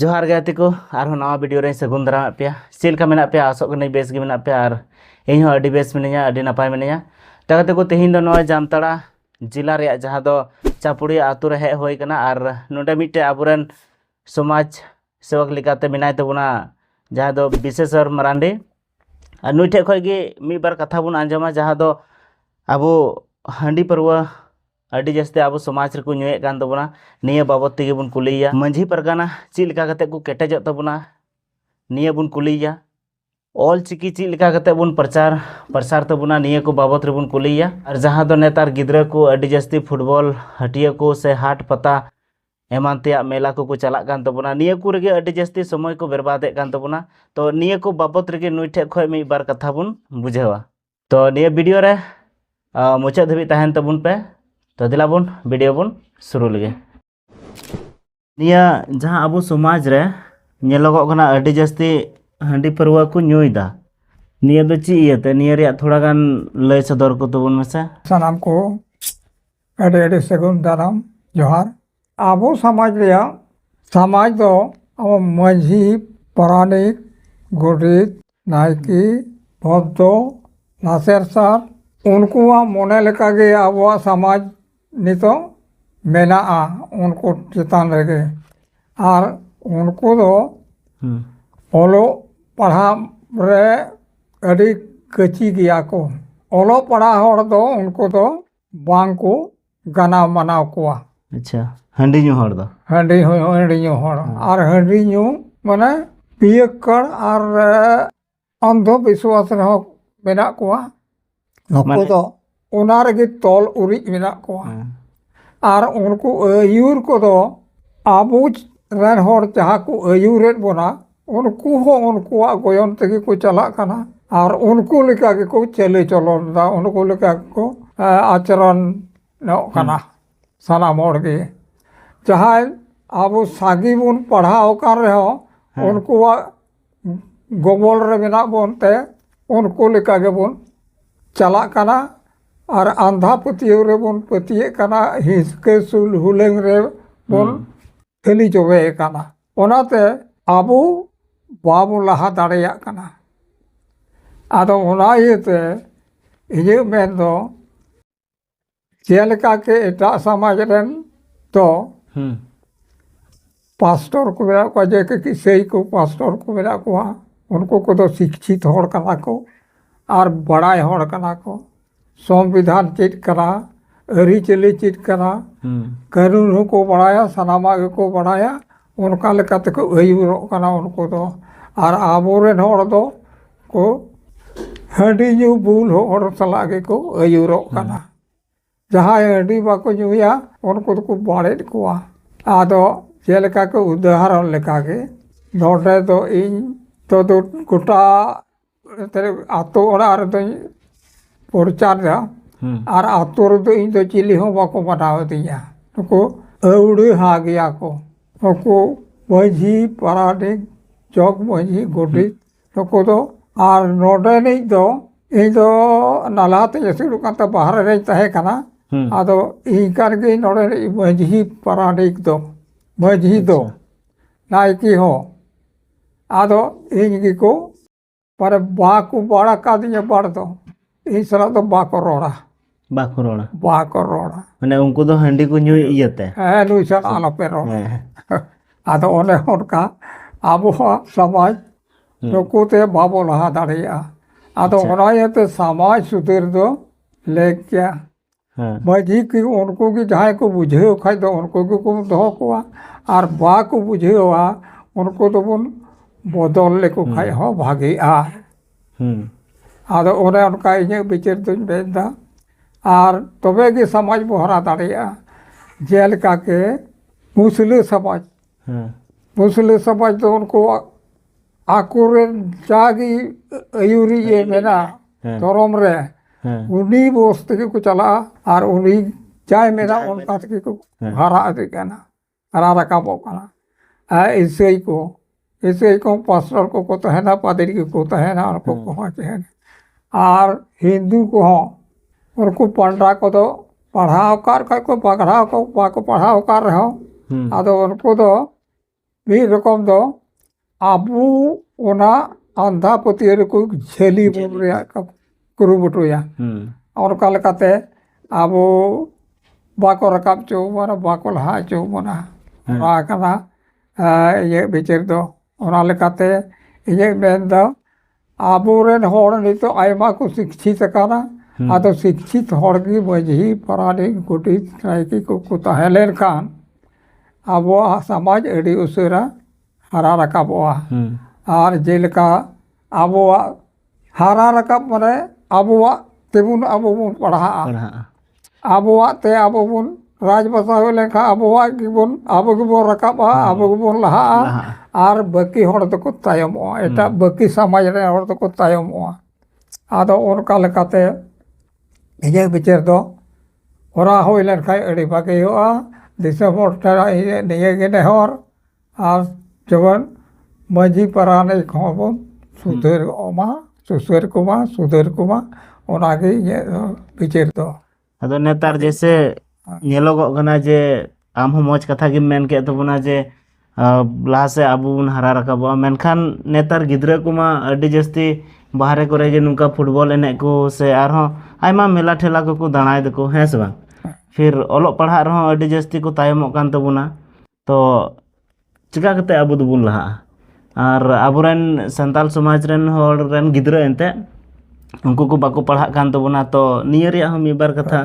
ᱡᱚᱦᱟᱨ ᱜᱮ ᱜᱟᱛᱮ ᱠᱚ ᱟᱨᱦᱚᱸ ᱱᱟᱣᱟ ᱵᱷᱤᱰᱤᱭᱳ ᱨᱮ ᱥᱟᱹᱜᱩᱱ ᱫᱟᱨᱟᱢᱮᱫ ᱯᱮᱭᱟ ᱪᱮᱫ ᱞᱮᱠᱟ ᱢᱮᱱᱟᱜ ᱯᱮᱭᱟ ᱟᱥᱚᱜ ᱠᱟᱹᱱᱟᱹᱧ ᱵᱮᱥ ᱜᱮ ᱢᱮᱱᱟᱜ ᱯᱮᱭᱟ ᱟᱨ ᱤᱧ ᱦᱚᱸ ᱟᱹᱰᱤ ᱵᱮᱥ ᱢᱤᱱᱟᱹᱧᱟ ᱟᱹᱰᱤ ᱱᱟᱯᱟᱭ ᱢᱤᱱᱟᱹᱧᱟ ᱛᱚ ᱜᱟᱛᱮ ᱠᱚ ᱛᱮᱦᱮᱧ ᱫᱚ ᱱᱚᱜᱼᱚᱭ ᱡᱟᱢᱛᱟᱲᱟ ᱡᱮᱞᱟ ᱨᱮᱭᱟᱜ ᱡᱟᱦᱟᱸ ᱫᱚ ᱪᱟᱯᱩᱲᱤᱭᱟ ᱟᱛᱳ ᱨᱮ ᱦᱮᱡ ᱦᱩᱭ ᱠᱟᱱᱟ ᱟᱨ ᱱᱚᱰᱮ ᱢᱤᱫᱴᱮᱡ ᱟᱵᱚᱨᱮᱱ ᱥᱚᱢᱟᱡᱽ ᱥᱮᱵᱚᱠ ᱞᱮᱠᱟᱛᱮ ᱢᱮᱱᱟᱭ ᱛᱟᱵᱚᱱᱟ ᱡᱟᱦᱟᱸ ᱫᱚ ᱵᱤᱥᱮᱥᱚᱨ ᱢᱟᱨᱟᱱᱰᱤ ᱟᱨ ᱱᱩᱭ ᱴᱷᱮᱡ ᱠᱷᱚᱡ ᱜᱮ ᱢᱤᱫ ᱵᱟᱨ ᱠᱟᱛᱷᱟ ᱵᱚᱱ ᱟᱸᱡᱚᱢᱟ ᱡᱟᱦᱟᱸ ᱫᱚ ᱟᱵᱚ ᱦᱟᱺᱰᱤ ᱯᱟᱹᱨᱣᱟᱹ ᱟᱹᱰᱤ ᱡᱟᱹᱥᱛᱤ ᱟᱵᱚ ᱥᱚᱢᱟᱡᱽ ᱨᱮᱠᱚ ᱧᱩᱭᱮᱫ ᱠᱟᱱ ᱛᱟᱵᱚᱱᱟ ᱱᱤᱭᱟᱹ ᱵᱟᱵᱚᱫ ᱛᱮᱜᱮ ᱵᱚᱱ ᱠᱩᱞᱤᱭᱮᱭᱟ ᱢᱟᱺᱡᱷᱤ ᱯᱟᱨᱜᱟᱱᱟ ᱪᱮᱫ ᱞᱮᱠᱟ ᱠᱟᱛᱮ ᱠᱚ ᱠᱮᱴᱮᱡᱚᱜ ᱛᱟᱵᱚᱱᱟ ᱱᱤᱭᱟᱹ ᱵᱚᱱ ᱠᱩᱞᱤᱭᱮᱭᱟ ᱚᱞ ᱪᱤᱠᱤ ᱪᱮᱫ ᱞᱮᱠᱟ ᱠᱟᱛᱮ ᱵᱚᱱ ᱯᱨᱚᱪᱟᱨ ᱯᱨᱚᱥᱟᱨ ᱛᱟᱵᱚᱱᱟ ᱱᱤᱭᱟᱹ ᱠᱚ ᱵᱟᱵᱚᱫ ᱨᱮᱵᱚᱱ ᱠᱩᱞᱤᱭᱮᱭᱟ ᱟᱨ ᱡᱟᱦᱟᱸ ᱫᱚ ᱱᱮᱛᱟᱨ ᱜᱤᱫᱽᱨᱟᱹ ᱠᱚ ᱟᱹᱰᱤ ᱡᱟᱹᱥᱛᱤ ᱯᱷᱩᱴᱵᱚᱞ ᱦᱟᱹᱴᱤᱭᱟᱹ ᱠᱚ ᱥᱮ ᱦᱟᱴ ᱯᱟᱛᱟ ᱮᱢᱟᱱ ᱛᱮᱭᱟᱜ ᱢᱮᱞᱟ ᱠᱚᱠᱚ ᱪᱟᱞᱟᱜ ᱠᱟᱱ ᱛᱟᱵᱚᱱᱟ ᱱᱤᱭᱟᱹ ᱠᱚ ᱨᱮᱜᱮ ᱟᱹᱰᱤ ᱡᱟᱹᱥᱛᱤ ᱥᱚᱢᱚᱭ ᱠᱚ ᱵᱮᱨᱵᱟᱫᱮᱫ ᱠᱟᱱ ᱛᱟᱵᱚᱱᱟ ᱛᱚ ᱱᱤᱭᱟᱹ ᱠᱚ ᱵᱟᱵᱚᱫ ᱨᱮᱜᱮ ᱱᱩᱭ ᱴᱷᱮᱡ ᱠᱷᱚᱡ ᱢᱤᱫ ᱵᱟᱨ ᱠᱟᱛᱷᱟ ᱵᱚᱱ ᱵᱩᱡᱷᱟᱹᱣᱟ ᱛᱚ ᱱᱤᱭᱟᱹ ᱵᱷᱤᱰᱤᱭᱳ ᱨᱮ ᱢᱩᱪᱟᱹᱫ ᱫᱷᱟᱹᱵᱤᱡ ᱛᱟᱦᱮᱱ ᱛᱟᱵᱚᱱ ᱯᱮ ᱛᱚ ᱫᱮᱞᱟ ᱵᱚᱱ ᱵᱷᱤᱰᱤᱭᱳ ᱵᱚᱱ ᱥᱩᱨᱩ ᱞᱮᱜᱮ ᱱᱤᱭᱟᱹ ᱡᱟᱦᱟᱸ ᱟᱵᱚ ᱥᱚᱢᱟᱡᱽ ᱨᱮ ᱧᱮᱞᱚᱜᱚᱜ ᱠᱟᱱᱟ ᱟᱹᱰᱤ ᱡᱟᱹᱥᱛᱤ ᱦᱟᱺᱰᱤ ᱯᱟᱹᱨᱣᱟᱹ ᱠᱚ ᱧᱩᱭᱫᱟ ᱱᱤᱭᱟᱹ ᱫᱚ ᱪᱮᱫ ᱤᱭᱟᱹᱛᱮ ᱱᱤᱭᱟᱹ ᱨᱮᱭᱟᱜ ᱛᱷᱚᱲᱟ ᱜᱟᱱ ᱞᱟᱹᱭ ᱥᱚᱫᱚᱨ ᱠᱚ ᱛᱟᱵᱚᱱ ᱢᱮᱥᱮ ᱥᱟᱱᱟᱢ ᱠᱚ ᱟᱹᱰᱤ ᱟᱹᱰᱤ ᱥᱟᱹᱜᱩᱱ ᱫᱟᱨᱟᱢ ᱡᱚᱦᱟᱨ ᱟᱵᱚ ᱥᱚᱢᱟᱡᱽ ᱨᱮᱭᱟᱜ ᱥᱚᱢᱟᱡᱽ ᱫᱚ ᱟᱵᱚ ᱢᱟᱹᱡᱷᱤ ᱯᱟᱨᱟᱱᱤᱠ ᱜᱚᱰᱮᱛ ᱱᱟᱭᱠᱮ ᱵᱷᱚᱫᱽᱫᱚ ᱞᱟᱥᱮᱨ ᱥᱟᱨ ᱩᱱᱠᱩᱣᱟᱜ ᱢᱚᱱᱮ ᱞᱮᱠᱟᱜᱮ ᱟᱵᱚᱣᱟᱜ ᱥᱚᱢᱟᱡᱽ ᱱᱤᱛᱚᱜ ᱢᱮᱱᱟᱜᱼᱟ ᱩᱱᱠᱩ ᱪᱮᱛᱟᱱ ᱨᱮᱜᱮ ᱟᱨ ᱩᱱᱠᱩ ᱫᱚ ᱚᱞᱚᱜ ᱯᱟᱲᱦᱟᱜ ᱨᱮ ᱟᱹᱰᱤ ᱠᱟᱹᱪᱤ ᱜᱮᱭᱟ ᱠᱚ ᱚᱞᱚᱜ ᱯᱟᱲᱦᱟᱜ ᱦᱚᱲ ᱫᱚ ᱩᱱᱠᱩ ᱫᱚ ᱵᱟᱝ ᱠᱚ ᱜᱟᱱᱟᱣ ᱢᱟᱱᱟᱣ ᱠᱚᱣᱟ ᱟᱪᱪᱷᱟ ᱦᱟᱺᱰᱤ ᱧᱩ ᱦᱚᱲ ᱫᱚ ᱦᱟᱺᱰᱤ ᱦᱚᱸ ᱦᱟᱺᱰᱤ ᱧᱩ ᱦᱚᱲ ᱟᱨ ᱦᱟᱺᱰᱤ ᱧᱩ ᱢᱟᱱᱮ ᱯᱤᱭᱟᱹᱠᱠᱟᱲ ᱟᱨ ᱚᱱᱫᱷᱚ ᱵᱤᱥᱣᱟᱥ ᱨᱮᱦᱚᱸ ᱢᱮᱱᱟᱜ ᱠᱚᱣᱟ ᱱᱩᱠᱩ ᱢᱟᱱᱮ- ᱫᱚ ᱚᱱᱟ ᱨᱮᱜᱮ ᱛᱚᱞ ᱩᱨᱤᱡ ᱢᱮᱱᱟᱜ ᱠᱚᱣᱟ ᱦᱮᱸ᱾ ᱟᱨ ᱩᱱᱠᱩ ᱟᱹᱭᱩᱨ ᱠᱚᱫᱚ ᱟᱵᱚ ᱨᱮᱱ ᱦᱚᱲ ᱡᱟᱦᱟᱸ ᱠᱚ ᱟᱹᱭᱩᱨᱮᱫ ᱵᱚᱱᱟ ᱩᱱᱠᱩ ᱦᱚᱸ ᱩᱱᱠᱩᱣᱟᱜ ᱜᱚᱭᱚᱱ ᱛᱮᱜᱮ ᱠᱚ ᱪᱟᱞᱟᱜ ᱠᱟᱱᱟ ᱟᱨ ᱩᱱᱠᱩ ᱞᱮᱠᱟ ᱜᱮᱠᱚ ᱪᱟᱹᱞᱤ ᱪᱚᱞᱚᱱ ᱫᱟ ᱩᱱᱠᱩ ᱞᱮᱠᱟ ᱜᱮᱠᱚ ᱟᱪᱚᱨᱚᱱ ᱧᱚᱜ ᱠᱟᱱᱟ ᱥᱟᱱᱟᱢ ᱦᱚᱲ ᱜᱮ ᱡᱟᱦᱟᱸᱭ ᱟᱵᱚ ᱥᱟᱸᱜᱮ ᱵᱚᱱ ᱯᱟᱲᱦᱟᱣ ᱟᱠᱟᱱ ᱨᱮᱦᱚᱸ ᱩᱱᱠᱩᱣᱟᱜ ᱜᱚᱵᱚᱞ ᱨᱮ ᱢᱮᱱᱟᱜ ᱵᱚᱱ ᱛᱮ ᱩᱱᱠᱩ ᱞᱮᱠᱟ ᱜᱮᱵᱚᱱ ᱪᱟᱞᱟᱜ ᱠᱟᱱᱟ ᱟᱨ ᱟᱸᱫᱷᱟ ᱯᱟᱹᱛᱭᱟᱹᱣ ᱨᱮᱵᱚᱱ ᱯᱟᱹᱛᱭᱟᱹᱜ ᱠᱟᱱᱟ ᱦᱤᱥᱠᱟᱹ ᱥᱩᱞ ᱦᱩᱞᱟᱹᱝ ᱨᱮ ᱵᱚᱱ ᱛᱷᱟᱹᱞᱤ ᱡᱚᱵᱮ ᱟᱠᱟᱱᱟ ᱚᱱᱟᱛᱮ ᱟᱵᱚ ᱵᱟᱵᱚ ᱞᱟᱦᱟ ᱫᱟᱲᱮᱭᱟᱜ ᱠᱟᱱᱟ ᱟᱫᱚ ᱚᱱᱟ ᱤᱭᱟᱹᱛᱮ ᱤᱧᱟᱹᱜ ᱢᱮᱱ ᱫᱚ ᱡᱮᱞᱮᱠᱟ ᱠᱤ ᱮᱴᱟᱜ ᱥᱚᱢᱟᱡᱽ ᱨᱮᱱ ᱫᱚ ᱯᱟᱥᱴᱚᱨ ᱠᱚ ᱢᱮᱱᱟᱜ ᱠᱚᱣᱟ ᱡᱮ ᱠᱤ ᱤᱥᱟᱹᱭ ᱠᱚ ᱯᱟᱥᱴᱚᱨ ᱠᱚ ᱢᱮᱱᱟᱜ ᱠᱚᱣᱟ ᱩᱱᱠᱩ ᱠᱚᱫᱚ ᱥᱤᱪᱪᱷᱤᱛ ᱦᱚᱲ ᱠᱟᱱᱟ ᱠᱚ ᱟᱨ ᱵᱟᱲᱟᱭ ᱦᱚᱲ ᱠᱟᱱᱟ ᱠᱚ ᱥᱚᱝᱵᱤᱫᱷᱟᱱ ᱪᱮᱫ ᱠᱟᱱᱟ ᱟᱹᱨᱤᱪᱟᱹᱞᱤ ᱪᱮᱫ ᱠᱟᱱᱟ ᱠᱟᱹᱱᱩᱱ ᱦᱚᱸᱠᱚ ᱵᱟᱲᱟᱭᱟ ᱥᱟᱱᱟᱢᱟᱜ ᱜᱮᱠᱚ ᱵᱟᱲᱟᱭᱟ ᱚᱱᱠᱟ ᱞᱮᱠᱟ ᱛᱮᱠᱚ ᱟᱹᱭᱩᱨᱚᱜ ᱠᱟᱱᱟ ᱩᱱᱠᱩ ᱫᱚ ᱟᱨ ᱟᱵᱚ ᱨᱮᱱ ᱦᱚᱲ ᱫᱚ ᱠᱚ ᱦᱟᱺᱰᱤ ᱧᱩ ᱵᱩᱞ ᱦᱚᱲ ᱥᱟᱞᱟᱜ ᱜᱮᱠᱚ ᱟᱹᱭᱩᱨᱚᱜ ᱠᱟᱱᱟ ᱡᱟᱦᱟᱸᱭ ᱦᱟᱺᱰᱤ ᱵᱟᱠᱚ ᱧᱩᱭᱟ ᱩᱱᱠᱩ ᱫᱚᱠᱚ ᱵᱟᱲᱮᱫ ᱠᱚᱣᱟ ᱟᱫᱚ ᱪᱮᱫ ᱞᱮᱠᱟ ᱠᱚ ᱩᱫᱟᱦᱚᱨᱚᱱ ᱞᱮᱠᱟᱜᱮ ᱱᱚᱰᱮ ᱫᱚ ᱤᱧ ᱛᱚ ᱜᱳᱴᱟ ᱟᱛᱳ ᱚᱲᱟᱜ ᱨᱮᱫᱚᱧ ᱯᱨᱚᱪᱟᱨ ᱫᱟ ᱟᱨ ᱟᱛᱳ ᱨᱮᱫᱚ ᱤᱧ ᱫᱚ ᱪᱤᱞᱤ ᱦᱚᱸ ᱵᱟᱠᱚ ᱵᱟᱰᱟᱣ ᱟᱹᱫᱤᱧᱟ ᱱᱩᱠᱩ ᱟᱹᱣᱲᱟᱹᱦᱟ ᱜᱮᱭᱟ ᱠᱚ ᱱᱩᱠᱩ ᱢᱟᱹᱡᱷᱤ ᱯᱟᱨᱟᱱᱤᱠ ᱡᱚᱜᱽ ᱢᱟᱹᱡᱷᱤ ᱜᱚᱰᱮᱛ ᱱᱩᱠᱩ ᱫᱚ ᱟᱨ ᱱᱚᱰᱮᱱᱤᱡ ᱫᱚ ᱤᱧ ᱫᱚ ᱱᱟᱞᱦᱟ ᱛᱮᱧ ᱟᱹᱥᱩᱞᱚᱜ ᱠᱟᱱ ᱛᱟᱦᱮᱸ ᱵᱟᱦᱨᱮ ᱨᱮᱧ ᱛᱟᱦᱮᱸ ᱠᱟᱱᱟ ᱟᱫᱚ ᱤᱧ ᱠᱟᱱ ᱜᱤᱭᱟᱹᱧ ᱱᱚᱰᱮᱱᱤᱡ ᱢᱟᱹᱡᱷᱤ ᱯᱟᱨᱟᱱᱤᱠ ᱫᱚ ᱢᱟᱹᱡᱷᱤ ᱫᱚ ᱱᱟᱭᱠᱮ ᱦᱚᱸ ᱟᱫᱚ ᱤᱧ ᱜᱮᱠᱚ ᱢᱟᱱᱮ ᱵᱟᱠᱚ ᱵᱟᱲ ᱟᱠᱟᱫᱤᱧᱟ ᱵᱟᱲ ᱫᱚ ᱤᱧ ᱥᱟᱞᱟᱜ ᱫᱚ ᱵᱟᱠᱚ ᱨᱚᱲᱟ ᱵᱟᱠᱚ ᱨᱚᱲᱟ ᱵᱟᱠᱚ ᱨᱚᱲᱟ ᱢᱟᱱᱮ ᱩᱱᱠᱩ ᱫᱚ ᱦᱟᱺᱰᱤ ᱠᱚ ᱧᱩᱭ ᱤᱭᱟᱹᱛᱮ ᱦᱮᱸ ᱱᱩᱭ ᱥᱟᱞᱟᱜ ᱟᱞᱚᱯᱮ ᱨᱚᱲ ᱦᱮᱸ ᱟᱫᱚ ᱚᱱᱮ ᱚᱱᱠᱟ ᱟᱵᱚᱣᱟᱜ ᱥᱚᱢᱟᱡᱽ ᱱᱩᱠᱩ ᱛᱮ ᱵᱟᱵᱚ ᱞᱟᱦᱟ ᱫᱟᱲᱮᱭᱟᱜᱼᱟ ᱟᱫᱚ ᱚᱱᱟ ᱤᱭᱟᱹᱛᱮ ᱥᱚᱢᱟᱡᱽ ᱥᱩᱫᱷᱟᱹᱨ ᱫᱚ ᱞᱮᱠ ᱜᱮᱭᱟ ᱢᱟᱺᱡᱷᱤ ᱠᱤ ᱩᱱᱠᱩ ᱜᱮ ᱡᱟᱦᱟᱸᱭ ᱠᱚ ᱵᱩᱡᱷᱟᱹᱣ ᱠᱷᱟᱡ ᱫᱚ ᱩᱱᱠᱩ ᱜᱮᱠᱚ ᱫᱚᱦᱚ ᱠᱚᱣᱟ ᱟᱨ ᱵᱟᱠᱚ ᱵᱩᱡᱷᱟᱹᱣᱟ ᱩᱱᱠᱩ ᱫᱚᱵᱚᱱ ᱵᱚᱫᱚᱞ ᱞᱮᱠᱚ ᱠᱷᱟᱡ ᱦᱚᱸ ᱵᱷᱟᱜᱮᱜᱼᱟ ᱟᱫᱚ ᱚᱱᱮ ᱚᱱᱠᱟ ᱤᱧᱟᱹᱜ ᱵᱤᱪᱟᱹᱨ ᱫᱚᱧ ᱢᱮᱱᱫᱟ ᱟᱨ ᱛᱚᱵᱮ ᱜᱮ ᱥᱚᱢᱟᱡᱽ ᱵᱚᱱ ᱦᱟᱨᱟ ᱫᱟᱲᱮᱭᱟᱜᱼᱟ ᱡᱮᱞᱮᱠᱟ ᱠᱤ ᱢᱩᱥᱞᱟᱹ ᱥᱚᱢᱟᱡᱽ ᱢᱩᱥᱞᱟᱹ ᱥᱚᱢᱟᱡᱽ ᱫᱚ ᱩᱱᱠᱩᱣᱟᱜ ᱟᱠᱚᱨᱮᱱ ᱡᱟᱜᱮ ᱟᱹᱭᱩᱨᱤᱡ ᱮ ᱢᱮᱱᱟᱜ ᱫᱷᱚᱨᱚᱢ ᱨᱮ ᱩᱱᱤ ᱵᱚᱥ ᱛᱮᱜᱮ ᱠᱚ ᱪᱟᱞᱟᱜᱼᱟ ᱟᱨ ᱩᱱᱤ ᱡᱟᱭ ᱢᱮᱱᱟ ᱚᱱᱠᱟ ᱛᱮᱜᱮ ᱠᱚ ᱦᱟᱨᱟ ᱤᱫᱤᱜ ᱠᱟᱱᱟ ᱦᱟᱨᱟ ᱨᱟᱠᱟᱵᱚᱜ ᱠᱟᱱᱟ ᱟᱨ ᱤᱥᱟᱹᱭ ᱠᱚ ᱤᱥᱟᱹᱭ ᱠᱚ ᱯᱟᱥᱴᱚᱨ ᱠᱚᱠᱚ ᱛᱟᱦᱮᱱᱟ ᱯᱟᱫᱽᱨᱤ ᱠᱚᱠᱚ ᱛᱟᱦᱮᱱᱟ ᱩᱱᱠᱩ ᱠᱚᱦᱚᱸ ᱛᱟᱦᱮᱱᱟ ᱟᱨ ᱦᱤᱱᱫᱩ ᱠᱚᱦᱚᱸ ᱩᱱᱠᱩ ᱯᱟᱱᱰᱟ ᱠᱚᱫᱚ ᱯᱟᱲᱦᱟᱣ ᱟᱠᱟᱫ ᱨᱮᱦᱚᱸ ᱠᱚ ᱯᱟᱲᱦᱟᱣ ᱠᱚ ᱵᱟᱠᱚ ᱯᱟᱲᱦᱟᱣ ᱟᱠᱟᱫ ᱨᱮᱦᱚᱸ ᱟᱫᱚ ᱩᱱᱠᱩ ᱫᱚ ᱢᱤᱫ ᱨᱚᱠᱚᱢ ᱫᱚ ᱟᱵᱚ ᱚᱱᱟ ᱟᱸᱫᱷᱟ ᱯᱟᱹᱛᱭᱟᱹᱣ ᱨᱮᱠᱚ ᱡᱷᱟᱹᱞᱤ ᱵᱚᱱ ᱨᱮᱭᱟᱜ ᱠᱚ ᱠᱩᱨᱩᱢᱩᱴᱩᱭᱟ ᱚᱱᱠᱟ ᱞᱮᱠᱟᱛᱮ ᱟᱵᱚ ᱵᱟᱠᱚ ᱨᱟᱠᱟᱵ ᱦᱚᱪᱚ ᱵᱚᱱᱟ ᱵᱟᱠᱚ ᱞᱟᱦᱟ ᱦᱚᱪᱚ ᱵᱚᱱᱟ ᱱᱚᱣᱟ ᱠᱟᱱᱟ ᱤᱧᱟᱹᱜ ᱵᱤᱪᱟᱹᱨ ᱫᱚ ᱚᱱᱟ ᱞᱮᱠᱟᱛᱮ ᱤᱧᱟᱹᱜ ᱢᱮᱱ ᱫᱚ ᱟᱵᱚᱨᱮᱱ ᱦᱚᱲ ᱱᱤᱛᱚᱜ ᱟᱭᱢᱟ ᱠᱚ ᱥᱤᱠᱪᱷᱤᱛ ᱟᱠᱟᱱᱟ ᱟᱫᱚ ᱥᱤᱠᱪᱷᱤᱛ ᱦᱚᱲ ᱜᱮ ᱢᱟᱹᱡᱷᱤ ᱯᱟᱨᱟᱱᱤᱠ ᱜᱚᱰᱮᱛ ᱱᱟᱭᱠᱮ ᱠᱚᱠᱚ ᱛᱟᱦᱮᱸ ᱞᱮᱱᱠᱷᱟᱱ ᱟᱵᱚᱣᱟᱜ ᱥᱚᱢᱟᱡᱽ ᱟᱹᱰᱤ ᱩᱥᱟᱹᱨᱟ ᱦᱟᱨᱟ ᱨᱟᱠᱟᱵᱚᱜᱼᱟ ᱟᱨ ᱡᱮᱞᱮᱠᱟ ᱟᱵᱚᱣᱟᱜ ᱦᱟᱨᱟ ᱨᱟᱠᱟᱵ ᱢᱟᱱᱮ ᱟᱵᱚᱣᱟᱜ ᱛᱮᱵᱚᱱ ᱟᱵᱚ ᱵᱚᱱ ᱯᱟᱲᱦᱟᱜᱼᱟ ᱟᱵᱚᱣᱟᱜ ᱛᱮ ᱟᱵᱚ ᱵᱚᱱ ᱨᱟᱡᱽ ᱵᱟᱥᱟ ᱦᱩᱭ ᱞᱮᱱᱠᱷᱟᱱ ᱟᱵᱚᱣᱟᱜ ᱜᱮᱵᱚᱱ ᱟᱵᱚ ᱜᱮᱵᱚᱱ ᱨᱟᱠᱟᱵᱼᱟ ᱟᱵᱚ ᱜᱮᱵᱚᱱ ᱞᱟᱦᱟᱜᱼᱟ ᱟᱨ ᱵᱟᱹᱠᱤ ᱦᱚᱲ ᱫᱚᱠᱚ ᱛᱟᱭᱚᱢᱚᱜᱼᱟ ᱮᱴᱟᱜ ᱵᱟᱹᱠᱤ ᱥᱚᱢᱟᱡᱽ ᱨᱮᱱ ᱦᱚᱲ ᱫᱚᱠᱚ ᱛᱟᱭᱚᱢᱚᱜᱼᱟ ᱟᱫᱚ ᱚᱱᱠᱟ ᱞᱮᱠᱟᱛᱮ ᱤᱧᱟᱹᱜ ᱵᱤᱪᱟᱹᱨ ᱫᱚ ᱠᱚᱨᱟᱣ ᱦᱩᱭ ᱞᱮᱱᱠᱷᱟᱱ ᱟᱹᱰᱤ ᱵᱷᱟᱹᱜᱤ ᱦᱩᱭᱩᱜᱼᱟ ᱫᱤᱥᱚᱢ ᱦᱚᱲ ᱴᱷᱮᱱ ᱤᱧᱟᱹᱜ ᱱᱤᱭᱟᱹᱜᱮ ᱱᱮᱦᱚᱨ ᱟᱨ ᱡᱮᱢᱚᱱ ᱢᱟᱹᱡᱷᱤ ᱯᱟᱨᱟᱱᱤᱠ ᱦᱚᱸᱵᱚᱱ ᱥᱩᱫᱷᱟᱹᱨ ᱠᱚᱢᱟ ᱥᱩᱥᱟᱹᱨ ᱠᱚᱢᱟ ᱥᱩᱫᱷᱟᱹᱨ ᱠᱚᱢᱟ ᱚᱱᱟᱜᱮ ᱤᱧᱟᱹᱜ ᱫᱚ ᱵᱤᱪᱟᱹᱨ ᱫᱚ ᱟᱫᱚ ᱱᱮᱛᱟᱨ ᱡᱮᱭᱥᱮ ᱧᱮᱞᱚᱜᱚᱜ ᱠᱟᱱᱟ ᱡᱮ ᱟᱢ ᱦᱚᱸ ᱢᱚᱡᱽ ᱠᱟᱛᱷᱟ ᱜᱮᱢ ᱢᱮᱱ ᱠᱮᱫ ᱛᱟᱵᱚᱱᱟ ᱡᱮ ᱞᱟᱦᱟ ᱥᱮᱫ ᱟᱵᱚ ᱵᱚᱱ ᱦᱟᱨᱟ ᱨᱟᱠᱟᱵᱚᱜᱼᱟ ᱢᱮᱱᱠᱷᱟᱱ ᱱᱮᱛᱟᱨ ᱜᱤᱫᱽᱨᱟᱹ ᱠᱚᱢᱟ ᱟᱹᱰᱤ ᱡᱟᱹᱥᱛᱤ ᱵᱟᱦᱨᱮ ᱠᱚᱨᱮ ᱜᱮ ᱱᱚᱝᱠᱟ ᱯᱷᱩᱴᱵᱚᱞ ᱮᱱᱮᱡ ᱠᱚ ᱥᱮ ᱟᱨᱦᱚᱸ ᱟᱭᱢᱟ ᱢᱮᱞᱟ ᱴᱷᱮᱞᱟ ᱠᱚᱠᱚ ᱫᱟᱬᱟᱭ ᱫᱟᱠᱚ ᱦᱮᱸ ᱥᱮ ᱵᱟᱝ ᱯᱷᱤᱨ ᱚᱞᱚᱜ ᱯᱟᱲᱦᱟᱜ ᱨᱮᱦᱚᱸ ᱟᱹᱰᱤ ᱡᱟᱹᱥᱛᱤ ᱠᱚ ᱛᱟᱭᱚᱢᱚᱜ ᱠᱟᱱ ᱛᱟᱵᱚᱱᱟ ᱛᱚ ᱪᱮᱠᱟ ᱠᱟᱛᱮ ᱟᱵᱚ ᱫᱚᱵᱚᱱ ᱞᱟᱦᱟᱜᱼᱟ ᱟᱨ ᱟᱵᱚᱨᱮᱱ ᱥᱟᱱᱛᱟᱲ ᱥᱚᱢᱟᱡᱽ ᱨᱮᱱ ᱦᱚᱲ ᱨᱮᱱ ᱜᱤᱫᱽᱨᱟᱹ ᱮᱱᱛᱮᱫ ᱩᱱᱠᱩ ᱠᱚ ᱵᱟᱠᱚ ᱯᱟᱲᱦᱟᱜ ᱠᱟᱱ ᱛᱟᱵᱚᱱᱟ ᱛᱚ ᱱᱤᱭᱟᱹ ᱨᱮᱭᱟᱜ ᱦᱚᱸ ᱢᱤᱫ ᱵᱟᱨ ᱠᱟᱛᱷᱟ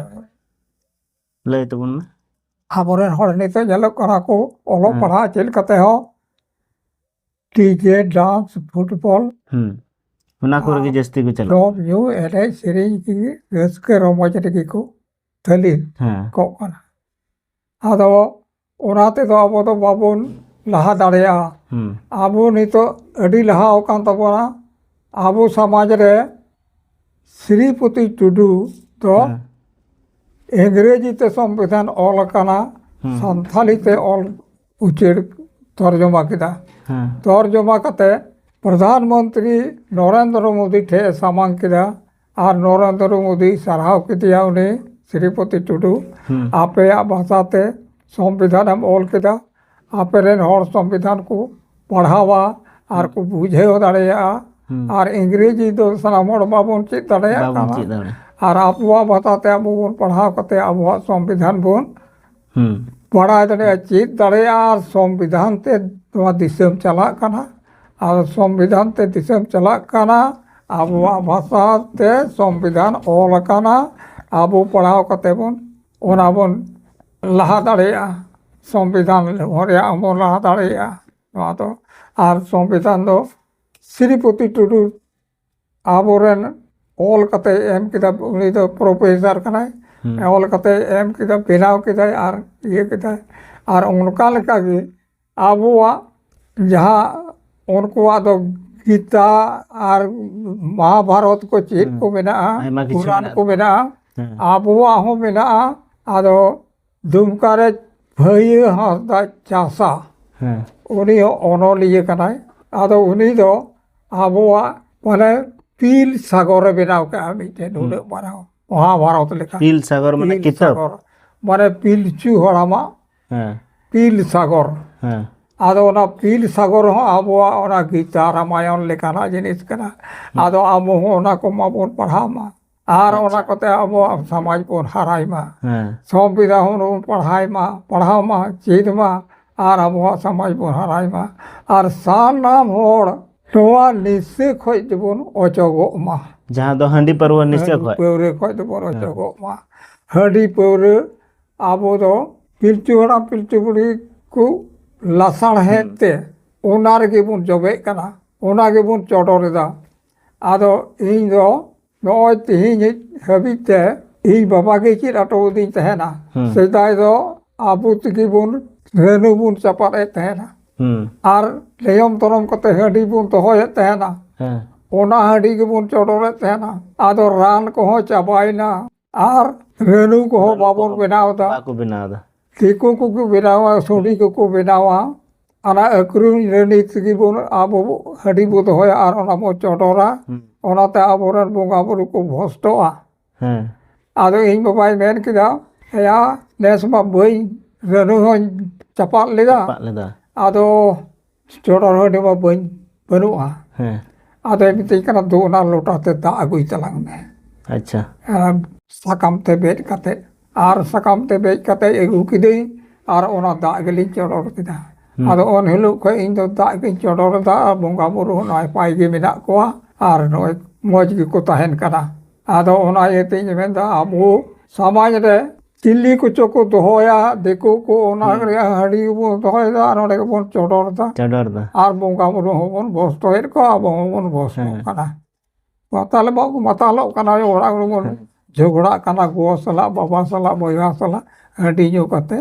ᱞᱟᱹᱭ ᱛᱟᱵᱚᱱ ᱢᱮ ᱟᱵᱚᱨᱮᱱ ᱦᱚᱲ ᱱᱤᱛᱚᱜ ᱧᱮᱞᱚᱜ ᱠᱟᱱᱟ ᱠᱚ ᱚᱞᱚᱜ ᱯᱟᱲᱦᱟᱜ ᱪᱮᱫ ᱠᱟᱛᱮ ᱦᱚᱸ ᱰᱤᱡᱮ ᱰᱟᱱᱥ ᱯᱷᱩᱴᱵᱚᱞ ᱦᱩᱸ ᱚᱱᱟ ᱠᱚᱨᱮ ᱜᱮ ᱡᱟᱹᱥᱛᱤ ᱠᱚ ᱪᱟᱞᱟᱜᱼᱟ ᱡᱚᱢ ᱧᱩ ᱮᱱᱮᱡ ᱥᱮᱨᱮᱧ ᱜᱮ ᱨᱟᱹᱥᱠᱟᱹ ᱨᱚᱢᱚᱡᱽ ᱨᱮᱜᱮ ᱠᱚ ᱛᱟᱹᱞᱤ ᱦᱮᱸ ᱠᱚᱜ ᱠᱟᱱᱟ ᱟᱫᱚ ᱚᱱᱟ ᱛᱮᱫᱚ ᱟᱵᱚ ᱫᱚ ᱵᱟᱵᱚᱱ ᱞᱟᱦᱟ ᱫᱟᱲᱮᱭᱟᱜᱼᱟ ᱟᱵᱚ ᱱᱤᱛᱚᱜ ᱟᱹᱰᱤ ᱞᱟᱦᱟ ᱟᱠᱟᱱ ᱛᱟᱵᱚᱱᱟ ᱟᱵᱚ ᱥᱚᱢᱟᱡᱽ ᱨᱮ ᱥᱨᱤᱯᱚᱛᱤ ᱴᱩᱰᱩ ᱫᱚ ᱤᱝᱨᱮᱡᱤ ᱛᱮ ᱥᱚᱝᱵᱤᱫᱷᱟᱱ ᱚᱞ ᱟᱠᱟᱱᱟ ᱥᱟᱱᱛᱷᱟᱞᱤ ᱛᱮ ᱚᱞ ᱩᱪᱟᱹᱲ ᱛᱚᱨᱡᱚᱢᱟ ᱠᱮᱫᱟ ᱛᱚᱨᱡᱚᱢᱟ ᱠᱟᱛᱮ ᱯᱨᱚᱫᱷᱟᱱ ᱢᱚᱱᱛᱨᱤ ᱱᱚᱨᱮᱱᱫᱨᱚ ᱢᱳᱫᱤ ᱴᱷᱮᱡ ᱮ ᱥᱟᱢᱟᱝ ᱠᱮᱫᱟ ᱟᱨ ᱱᱚᱨᱮᱱᱫᱨᱚ ᱢᱳᱫᱤ ᱥᱟᱨᱦᱟᱣ ᱠᱮᱫᱮᱭᱟ ᱩᱱᱤ ᱥᱨᱤᱯᱚᱛᱤ ᱴᱩᱰᱩ ᱟᱯᱮᱭᱟᱜ ᱵᱷᱟᱥᱟᱛᱮ ᱥᱚᱝᱵᱤᱫᱷᱟᱱᱮᱢ ᱚᱞ ᱠᱮᱫᱟ ᱟᱯᱮ ᱨᱮᱱ ᱦᱚᱲ ᱥᱚᱝᱵᱤᱫᱷᱟᱱ ᱠᱚ ᱯᱟᱲᱦᱟᱣᱟ ᱟᱨ ᱠᱚ ᱵᱩᱡᱷᱟᱹᱣ ᱫᱟᱲᱮᱭᱟᱜᱼᱟ ᱟᱨ ᱤᱝᱨᱮᱡᱤ ᱫᱚ ᱥᱟᱱᱟᱢ ᱦᱚᱲ ᱵᱟᱵᱚᱱ ᱪᱮᱫ ᱫᱟᱲᱮᱭᱟᱜ ᱵᱟᱵᱚᱱ ᱠᱟᱱᱟ ᱪᱮᱫ ᱫᱟᱲᱮᱭᱟᱜᱼᱟ ᱟᱨ ᱟᱵᱚᱣᱟᱜ ᱵᱷᱟᱥᱟᱛᱮ ᱟᱵᱚ ᱵᱚᱱ ᱯᱟᱲᱦᱟᱣ ᱠᱟᱛᱮᱫ ᱟᱵᱚᱣᱟᱜ ᱥᱚᱝᱵᱤᱫᱷᱟᱱ ᱵᱚᱱ ᱵᱟᱲᱟᱭ ᱫᱟᱲᱮᱭᱟᱜᱼᱟ ᱪᱮᱫ ᱫᱟᱲᱮᱭᱟᱜᱼᱟ ᱟᱨ ᱥᱚᱝᱵᱤᱫᱷᱟᱱ ᱛᱮ ᱱᱚᱣᱟ ᱫᱤᱥᱚᱢ ᱪᱟᱞᱟᱜ ᱠᱟᱱᱟ ᱟᱨ ᱥᱚᱝᱵᱤᱫᱷᱟᱱ ᱛᱮ ᱫᱤᱥᱚᱢ ᱪᱟᱞᱟᱜ ᱠᱟᱱᱟ ᱟᱵᱚᱣᱟᱜ ᱵᱷᱟᱥᱟ ᱛᱮ ᱥᱚᱝᱵᱤᱫᱷᱟᱱ ᱚᱞ ᱠᱟᱱᱟ ᱟᱵᱚ ᱯᱟᱲᱦᱟᱣ ᱠᱟᱛᱮ ᱵᱚᱱ ᱚᱱᱟ ᱵᱚᱱ ᱞᱟᱦᱟ ᱫᱟᱲᱮᱭᱟᱜᱼᱟ ᱥᱚᱝᱵᱤᱫᱷᱟᱱ ᱨᱮᱭᱟᱜ ᱦᱚᱸ ᱵᱚᱱ ᱞᱟᱦᱟ ᱫᱟᱲᱮᱭᱟᱜᱼᱟ ᱱᱚᱣᱟ ᱫᱚ ᱟᱨ ᱥᱚᱝᱵᱤᱫᱷᱟᱱ ᱫᱚ ᱥᱨᱤᱯᱚᱛᱤ ᱴᱩᱰᱩ ᱟᱵᱚᱨᱮᱱ ᱚᱞ ᱠᱟᱛᱮ ᱮᱢ ᱠᱮᱫᱟ ᱩᱱᱤ ᱫᱚ ᱯᱨᱚᱯᱷᱮᱥᱟᱨ ᱠᱟᱱᱟᱭ ᱚᱞ ᱠᱟᱛᱮ ᱮᱢ ᱠᱮᱫᱟ ᱵᱮᱱᱟᱣ ᱠᱮᱫᱟᱭ ᱟᱨ ᱤᱭᱟᱹ ᱠᱮᱫᱟᱭ ᱟᱨ ᱚᱱᱠᱟ ᱞᱮᱠᱟᱜᱮ ᱟᱵᱚᱣᱟᱜ ᱡᱟᱦᱟᱸ ᱩᱱᱠᱩᱣᱟᱜ ᱫᱚ ᱜᱤᱛᱟ ᱟᱨ ᱢᱚᱦᱟᱵᱷᱟᱨᱚᱛ ᱠᱚ ᱪᱮᱫ ᱠᱚ ᱢᱮᱱᱟᱜᱼᱟ ᱯᱩᱨᱟᱱ ᱠᱚ ᱢᱮᱱᱟᱜᱼᱟ ᱟᱵᱚᱣᱟᱜ ᱦᱚᱸ ᱢᱮᱱᱟᱜᱼᱟ ᱟᱫᱚ ᱫᱩᱢᱠᱟ ᱨᱮ ᱵᱷᱟᱹᱭᱟᱹ ᱦᱟᱸᱥᱫᱟ ᱪᱟᱥᱟ ᱦᱮᱸ ᱩᱱᱤ ᱦᱚᱸ ᱚᱱᱚᱞᱤᱭᱟᱹ ᱠᱟᱱᱟᱭ ᱟᱫᱚ ᱩᱱᱤ ᱫᱚ ᱟᱵᱚᱣᱟᱜ ᱢᱟᱱᱮ ᱯᱤᱞ ᱥᱟᱜᱚᱨᱮ ᱵᱮᱱᱟᱣ ᱠᱟᱜᱼᱟ ᱢᱤᱫᱴᱮᱱ ᱩᱱᱟᱹᱜ ᱢᱟᱨᱟᱝ ᱢᱚᱦᱟᱵᱷᱟᱨᱚᱛ ᱞᱮᱠᱟ ᱯᱤᱞ ᱥᱟᱜᱚᱨ ᱢᱟᱱᱮ ᱯᱤᱞ ᱠᱤᱛᱟᱹᱵ ᱥᱟᱜᱚᱨ ᱢᱟᱱᱮ ᱯᱤᱞᱪᱩ ᱦᱟᱲᱟᱢᱟᱜ ᱦᱮᱸ ᱯᱤᱞ ᱥᱟᱜᱚᱨ ᱦᱮᱸ ᱟᱫᱚ ᱚᱱᱟ ᱯᱤᱞ ᱥᱟᱜᱚᱨ ᱦᱚᱸ ᱟᱵᱚᱣᱟᱜ ᱚᱱᱟ ᱜᱤᱛᱟ ᱨᱟᱢᱟᱭᱚᱱ ᱞᱮᱠᱟᱱᱟᱜ ᱡᱤᱱᱤᱥ ᱠᱟᱱᱟ ᱟᱫᱚ ᱟᱵᱚ ᱦᱚᱸ ᱚᱱᱟ ᱠᱚᱢᱟᱵᱚᱱ ᱯᱟᱲᱦᱟᱣ ᱢᱟ ᱟᱨ ᱟᱪᱪᱷᱟ᱾ ᱚᱱᱟ ᱠᱚᱛᱮ ᱟᱵᱚᱣᱟᱜ ᱥᱚᱢᱟᱡᱽ ᱵᱚᱱ ᱦᱟᱨᱟᱭ ᱢᱟ ᱦᱮᱸ ᱥᱚᱝᱵᱤᱫᱷᱟ ᱦᱚᱸ ᱵᱚᱱ ᱯᱟᱲᱦᱟᱣ ᱢᱟ ᱯᱟᱲᱦᱟᱣ ᱢᱟ ᱪᱮᱫ ᱢᱟ ᱟᱨ ᱟᱵᱚᱣᱟᱜ ᱥᱚᱢᱟᱡᱽ ᱵᱚᱱ ᱦᱟᱨᱟᱭ ᱢᱟ ᱟᱨ ᱥᱟᱱᱟᱢ ᱦᱚᱲ ᱱᱚᱣᱟ ᱱᱤᱥᱟᱹ ᱠᱷᱚᱡ ᱫᱚᱵᱚᱱ ᱚᱪᱚᱜᱚᱜ ᱢᱟ ᱡᱟᱦᱟᱸ ᱫᱚ ᱦᱟᱺᱰᱤ ᱯᱟᱹᱨᱣᱟᱹ ᱱᱤᱥᱟᱹ ᱦᱟᱺᱰᱤ ᱠᱷᱚᱡ ᱯᱟᱹᱣᱨᱟᱹ ᱠᱷᱚᱡ ᱫᱚᱵᱚᱱ ᱚᱪᱚᱜᱚᱜ ᱢᱟ ᱦᱟᱺᱰᱤ ᱯᱟᱹᱣᱨᱟᱹ ᱟᱵᱚ ᱫᱚ ᱯᱤᱞᱪᱩ ᱦᱟᱲᱟᱢ ᱯᱤᱞᱪᱩ ᱵᱩᱲᱦᱤ ᱠᱚ ᱞᱟᱥᱟᱲᱦᱮᱫ ᱛᱮ ᱚᱱᱟ ᱨᱮᱜᱮ ᱵᱚᱱ ᱡᱚᱵᱮᱜ ᱠᱟᱱᱟ ᱚᱱᱟ ᱜᱮᱵᱚᱱ ᱪᱚᱰᱚᱨᱮᱫᱟ ᱟᱫᱚ ᱤᱧ ᱫᱚ ᱱᱚᱜᱼᱚᱭ ᱛᱮᱦᱮᱧ ᱦᱟᱹᱵᱤᱡ ᱛᱮ ᱤᱧ ᱵᱟᱵᱟ ᱜᱮ ᱪᱮᱫ ᱟᱴᱚ ᱟᱹᱫᱤᱧ ᱛᱟᱦᱮᱱᱟ ᱥᱮᱫᱟᱭ ᱫᱚ ᱟᱵᱚ ᱛᱮᱜᱮ ᱵᱚᱱ ᱨᱟᱹᱱᱩ ᱵᱚᱱ ᱪᱟᱯᱟᱫ ᱮᱫ ᱛᱟᱦᱮᱱᱟ ᱟᱨ ᱞᱮᱭᱚᱢ ᱛᱚᱨᱚᱢ ᱠᱟᱛᱮ ᱦᱟᱺᱰᱤ ᱵᱚᱱ ᱫᱚᱦᱚᱭᱮᱫ ᱛᱟᱦᱮᱱᱟ ᱚᱱᱟ ᱦᱟᱺᱰᱤ ᱜᱮᱵᱚᱱ ᱪᱚᱰᱚᱨᱮᱫ ᱛᱟᱦᱮᱱᱟ ᱟᱫᱚ ᱨᱟᱱ ᱠᱚᱦᱚᱸ ᱪᱟᱵᱟᱭᱮᱱᱟ ᱟᱨ ᱨᱟᱹᱱᱩ ᱠᱚᱦᱚᱸ ᱵᱟᱵᱚᱱ ᱵᱮᱱᱟᱣ ᱮᱫᱟ ᱵᱟᱠᱚ ᱵᱮᱱᱟᱣ ᱮᱫᱟ ᱫᱤᱠᱩ ᱠᱚᱠᱚ ᱵᱮᱱᱟᱣᱟ ᱥᱩᱰᱤ ᱠᱚᱠᱚ ᱵᱮᱱᱟᱣᱟ ᱚᱱᱟ ᱟᱹᱠᱷᱨᱤᱧ ᱨᱟᱹᱱᱤ ᱛᱮᱜᱮ ᱵᱚᱱ ᱟᱵᱚ ᱦᱟᱺᱰᱤ ᱵᱚ ᱫᱚᱦᱚᱭᱟ ᱟᱨ ᱚᱱᱟ ᱵᱚ ᱪᱚᱰᱚᱨᱟ ᱚᱱᱟᱛᱮ ᱟᱵᱚᱨᱮᱱ ᱵᱚᱸᱜᱟ ᱵᱩᱨᱩ ᱠᱚ ᱵᱷᱚᱥᱴᱚᱜᱼᱟ ᱦᱮᱸ ᱟᱫᱚ ᱤᱧ ᱵᱟᱵᱟᱭ ᱢᱮᱱ ᱠᱮᱫᱟ ᱮᱭᱟ ᱱᱮᱥ ᱢᱟ ᱵᱟᱹᱧ ᱨᱟᱹᱱᱩ ᱦᱚᱸᱧ ᱪᱟᱯᱟᱫ ᱞᱮᱫᱟ ᱪᱟᱯᱟᱫ ᱞᱮᱫᱟ ᱟᱫᱚ ᱪᱚᱰᱚᱨ ᱦᱟᱺᱰᱤ ᱢᱟ ᱵᱟᱹᱧ ᱵᱟᱹᱱᱩᱜᱼᱟ ᱦᱮᱸ ᱟᱫᱚᱭ ᱢᱤᱛᱟᱹᱧ ᱠᱟᱱᱟ ᱫᱩ ᱚᱱᱟ ᱞᱚᱴᱟ ᱛᱮ ᱫᱟᱜ ᱟᱹᱜᱩᱭ ᱛᱟᱞᱟᱝ ᱢᱮ ᱟᱪᱪᱷᱟ ᱟᱨ ᱥᱟᱠᱟᱢ ᱛᱮ ᱵᱮᱫ ᱠᱟᱛᱮᱫ ᱟᱨ ᱥᱟᱠᱟᱢ ᱛᱮ ᱵᱮᱫ ᱠᱟᱛᱮᱫ ᱟᱹᱜᱩ ᱠᱤᱫᱟᱹᱧ ᱟᱨ ᱚᱱᱟ ᱫᱟᱜ ᱜᱮᱞᱤᱧ ᱪᱚᱰᱚᱨ ᱠᱮᱫᱟ ᱟᱫᱚ ᱩᱱ ᱦᱤᱞᱳᱜ ᱠᱷᱚᱡ ᱤᱧ ᱫᱚ ᱫᱟᱜ ᱜᱤᱧ ᱪᱚᱰᱚᱨ ᱮᱫᱟ ᱟᱨ ᱵᱚᱸᱜᱟ ᱵᱩᱨᱩ ᱦᱚᱸ ᱱᱟᱯᱟᱭ ᱜᱮ ᱢᱮᱱᱟᱜ ᱠᱚᱣᱟ ᱟᱨ ᱱᱚᱜᱼᱚᱭ ᱢᱚᱡᱽ ᱜᱮᱠᱚ ᱛᱟᱦᱮᱱ ᱠᱟᱱᱟ ᱟᱫᱚ ᱚᱱᱟ ᱤᱭᱟᱹ ᱛᱤᱧ ᱢᱮᱱᱫᱟ ᱟᱵᱚ ᱥᱚᱢᱟᱡᱽ ᱨᱮ ᱛᱤᱞᱤ ᱠᱚᱪᱚ ᱠᱚ ᱫᱚᱦᱚᱭᱟ ᱫᱤᱠᱩ ᱠᱚ ᱚᱱᱟ ᱨᱮᱭᱟᱜ ᱦᱟᱺᱰᱤ ᱵᱚᱱ ᱫᱚᱦᱚᱭᱮᱫᱟ ᱟᱨ ᱚᱸᱰᱮ ᱜᱮᱵᱚᱱ ᱪᱚᱰᱚᱨ ᱮᱫᱟ ᱪᱚᱰᱚᱨ ᱫᱟ ᱟᱨ ᱵᱚᱸᱜᱟ ᱵᱩᱨᱩ ᱦᱚᱸᱵᱚᱱ ᱵᱚᱥᱛᱚᱭᱮᱫ ᱠᱚᱣᱟ ᱟᱵᱚ ᱦᱚᱸᱵᱚᱱ ᱵᱚᱥᱛᱚᱜ ᱠᱟᱱᱟ ᱢᱟᱛᱟᱞ ᱵᱟᱝ ᱢᱟᱛᱟᱞᱚᱜ ᱠᱟᱱᱟ ᱚᱲᱟᱜ ᱨᱮᱵᱚᱱ ᱡᱷᱚᱜᱽᱲᱟᱜ ᱠᱟᱱᱟ ᱜᱚ ᱥᱟᱞᱟᱜ ᱵᱟᱵᱟ ᱥᱟᱞᱟᱜ ᱵᱚᱭᱦᱟ ᱥᱟᱞᱟᱜ ᱦᱟᱺᱰᱤ ᱧᱩ ᱠᱟᱛᱮ